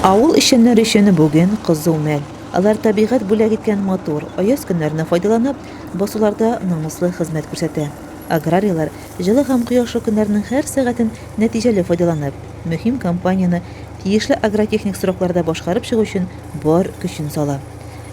Авыл эшчәннәре өчен бүген кызу мәл. Алар табигать бүләк иткән матур, аяз көннәрне файдаланып, басуларда намуслы хезмәт күрсәтә. Аграрийлар, җылы һәм кояшлы көннәрнең һәр сәгатен нәтиҗәле файдаланып, мөһим кампанияне тиешле агротехник срокларда башкарып чыгу өчен бар көчен сала.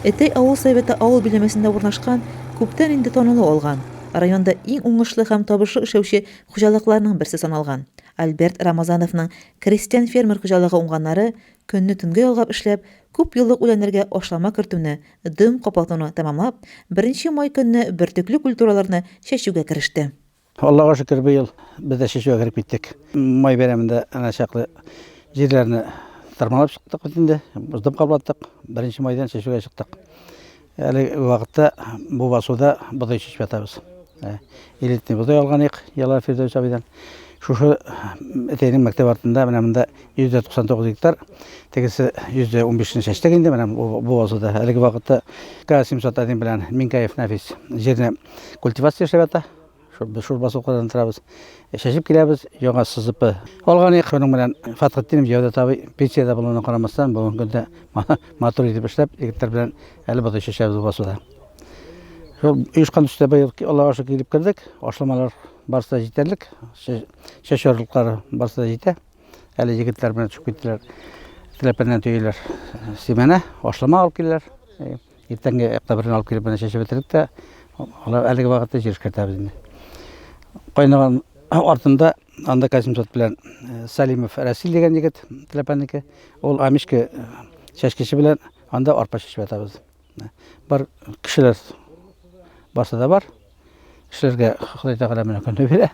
Этәй авыл советы авыл биләмәсендә урнашкан, күптән инде танылу алган, районда иң уңышлы һәм табышлы эшләүче хуҗалыкларның берсе саналган Альберт Рамазановның крестьян-фермер хуҗалыгы уңганнары көнне төнгә ялгап эшләп, күп еллык үләннәргә ашлама кертүне, дөм каплатуны тәмамлап, беренче май көнне бөртекле культураларны чәчүгә кереште. Аллага шөкер, быел без дә чәчүгә кереп киттек. Май бәйрәмендә әнә чаклы җирләрне тырмалап чыктык бит инде, дөм каплаттык, беренче майдан чәчүгә чыктык. Әлеге вакытта бу басуда бодай чәчеп ятабыз. Ә, Элитный бодай алган идек Ялар Фирдәүс абыйдан. Шушы әтәйнең мәктәп артында менә монда 199 гектар, тегесе 115 не чәчтек инде менә бу бу басуда. Әлеге вакытта К701 белән Минкаев Нәфис җирне культивация эшләп ята. Без шурба сукадан торабыз. Чәчеп киләбез, яңа сызыпы. Алган ек, шуның белән Фатхетдинов Җәүдәт абый пенсиядә булуына карамастан, бүгенге көндә матур итеп эшләп, егетләр белән әле бодай чәчәбез басуда. Шул оешкан төстә быел Аллага шөкер килеп кердек. Ашламалар барысы да җитәрлек. Чәчү орлыклары барысы да җитә. Әле егетләр белән төшеп киттеләр. Теләпәннән төяләр семена, ашлама алып киләләр. Иртәнге октябрьне алып килеп менә чәчеп бетердек тә, алар әлеге вакытта җир эшкәртәбез инде. Кайнаган артында анда Касимсот белән э, Салимов Расил дигән егет Теләпәнеке. Ул Амишке э, чәчкече белән анда арпа чәчеп ятабыз. Бар кешеләр барса да бар. Эшләргә Ходай Тәгалә менә көне бирә.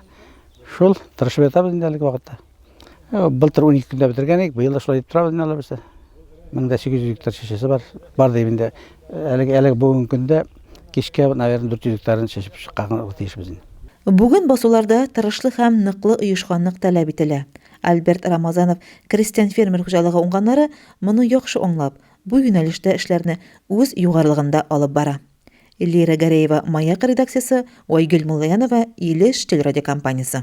Шул тырышып ятабыз инде әлеге вакытта. Э, былтыр 12 көндә бетергән идек, быел да шулай дип торабыз инде алабыз. 1800 гектар чәчәсе бар. Бар дип инде э, әлеге әлеге бүгенге көндә кичкә, наверное, 400 гектарын чәчеп чыкканга тиешбез инде. Бүген басуларда тырышлык һәм ныклы оешканлык таләп ителә. Альберт Рамазанов крестьян-фермер хуҗалыгы уңганнары моны яхшы аңлап, бу юнәлештә эшләрне үз югарылыгында алып бара. Лира Гәрәева, Маяк редакциясе, Айгөл Муллаянова, Илеш телерадиокомпаниясе.